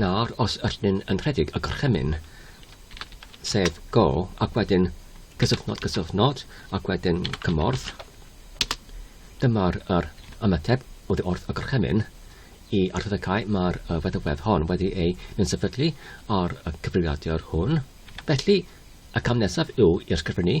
Nawr os ydyn ni'n yn rhedeg y gorchymyn, sef go, ac wedyn cysyfnod, cysyfnod, ac wedyn cymorth, dyma'r yr ymateb oddi wrth y gorchymyn i arddegau mae'r feddywedd hon wedi ei mensefydlu ar y cyfrifiadur hwn. Felly, y cam nesaf yw i'r sgrifennu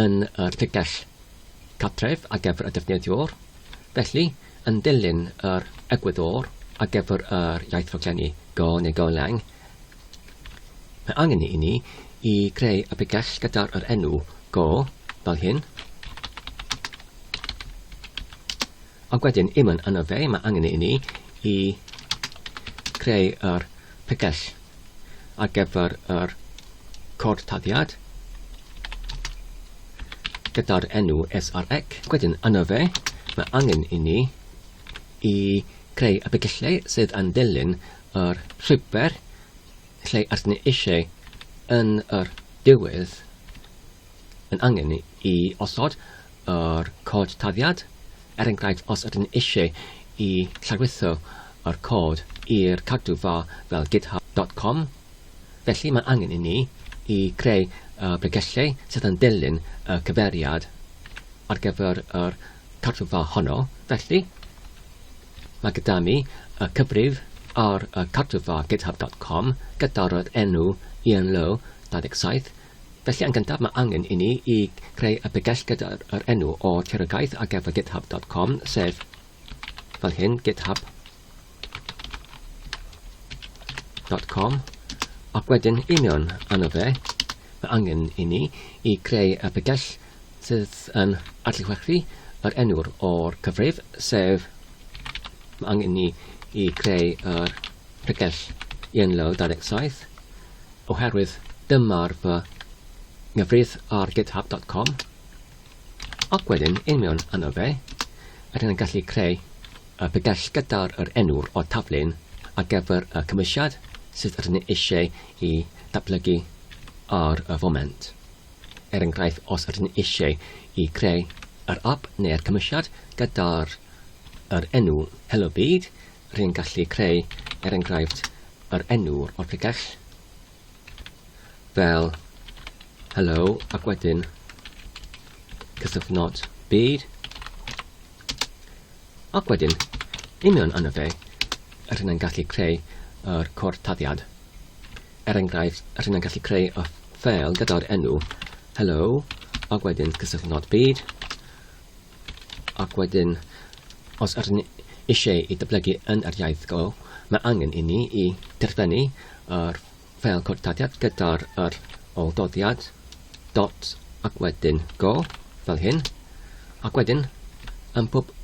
yn yr tegell cartref ar gyfer y defnyddiwr, felly, yn dilyn yr egwyddor ar gyfer yr iaith raglennu go neu go lang, mae angen i ni i greu y pregell gyda'r yr enw go, fel hyn, ac wedyn i mynd arno fe, mae angen i ni i creu yr pegell ar gyfer yr cod taddiad gyda'r enw SREC. Wedyn yno fe, mae angen i ni i creu y pegellau sydd yn dilyn yr llwybr lle ydyn ni eisiau yn yr diwedd yn angen i osod yr cod tarddiad, er enghraifft os ydyn ni eisiau i lawrytho yr cod i'r cadw fa fel github dot com, felly mae angen i ni i greu y bregellau sydd yn dilyn y cyfeiriad ar gyfer yr cadw fa honno, felly mae gyda mi y cyfrif ar y cadw fa github dot com gyda'r enw Ian Lowe 27 Felly yn gyntaf mae angen i ni i greu y bregell gyda'r yr enw o Trerogaeth ar gyfer github dot com sef fel hyn github dot com ac wedyn i mewn arno fe mae angen i ni i greu y bregell sydd yn adlewyrchu yr enw'r o'r cyfrif sef mae angen i ni i greu yr pregell i enlawr 27 oherwydd dyma'r fy nghyfrif ar github dot com ac wedyn yn mewn yno fe ydyn yn gallu creu y pegell gyda'r yr enw o'r taflun ar gyfer y cymwysiad sydd ydyn ni eisiau i ddatblygu ar y foment. Er enghraifft, os ydyn ni eisiau i creu yr app neu'r cymwysiad gyda'r yr enw Hello Byd, Rwy'n gallu creu, er enghraifft, yr enw o'r pregeth, fel hello, ac wedyn cysylltnod byd, ac wedyn, union yna fe, rwy'n yn gallu creu yr cortaddiad. Er enghraifft, rwy'n yn gallu creu y ffeil gyda'r enw hello, ac wedyn cysylltnod byd, Ac wedyn, os ydyn ni eisiau ei datblygu yn yr iaith go, mae angen i ni i derfynu yr ffeil cod tadiad gyda'r yr ol doddiad, dot, ac wedyn go, fel hyn. Ac wedyn, ym mhob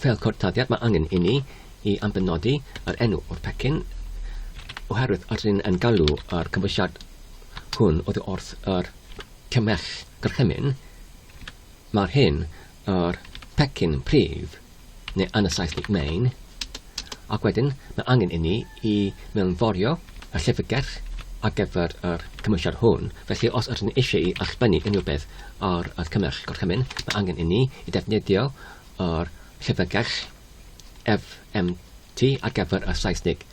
ffeil cod tadiad mae angen i ni i ambenodi yr enw o'r pecyn, oherwydd ydyn ni yn galw yr cymwysiad hwn oddi wrth yr cymell gorchymyn, Mae'r hyn yr pecyn prif, neu yn y Saesneg main, ac wedyn mae angen inni i mewnforio y llyfrgell ar gyfer yr cymwysiad hwn, felly os ydyn ni eisiau i allbynnu unrhyw beth ar yr cymell gorchymyn, mae angen inni i ddefnyddio yr llyfrgell FMT ar gyfer y Saesneg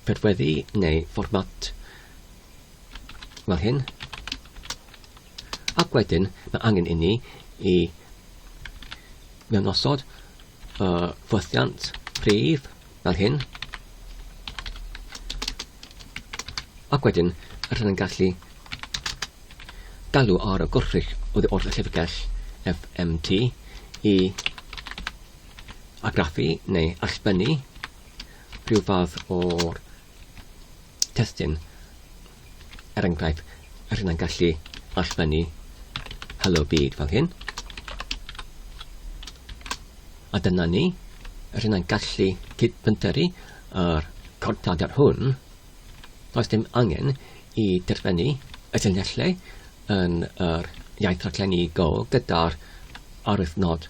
prydweddu neu fformat fel hyn. Ac wedyn, mae angen inni i mewnosod y ffwythiant prif fel hyn. Ac wedyn, rydyn yn gallu galw ar y gwrthrych oddi wrth y llyfrgell FMT i agraffu neu allbynnu rhyw fath o'r testun, er enghraifft, a rhywun yn gallu allfynnu Hello Byd fel hyn. A dyna ni, rhywun yn gallu cydbynteru ar cortadr hwn, does dim angen i derfynu y llinellau yn yr iaith raglenni Go gyda'r arwydd nod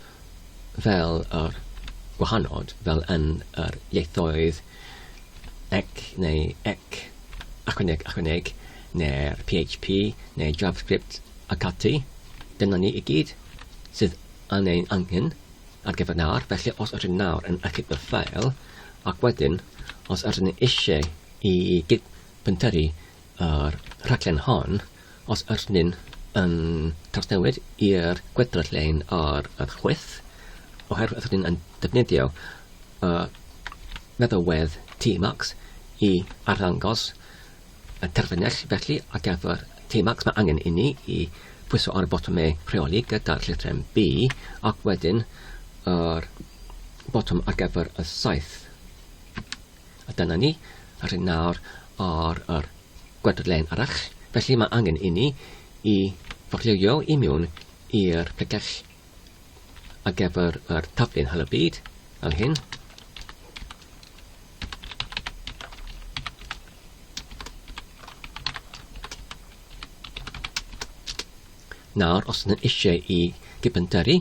fel yr gwahanod, fel yn yr ieithoedd ec neu ec, achwyneg, achwyneg, neu'r PHP neu JavaScript ac ati, dyna ni i gyd sydd yn ein angen ar gyfer nawr, felly os ydyn nawr yn achub y ffeil, ac wedyn os ydyn ni eisiau i gyd-bentyrru O'r rhaglen hon, os ydyn ni yn trawsnewid i'r gweddill lein ar y chwith, oherwydd ydyn ni yn defnyddio y meddalwedd Tmax i arddangos y terfynell, felly ar gyfer Tmax mae angen i ni i pwyso ar y botymau rheoli gyda'r llythrem B ac wedyn yr botwm ar gyfer y saeth. A dyna ni, a rhyn nawr ar yr gwedrlen arall, felly mae angen inni i forlywio i mewn i'r pregell ar gyfer yr taflen hel y byd, fel hyn. Nawr, os ydyn eisiau i gybyntyru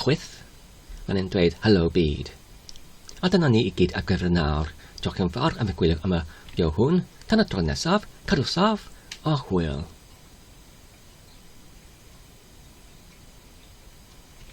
Chwith, mae'n e'n dweud Helo byd. A dyna ni i gyd ar gyfer nawr, diolch yn fawr am y gwylio am y fideo hwn, tan y tro nesaf, cadw saff a hwyl.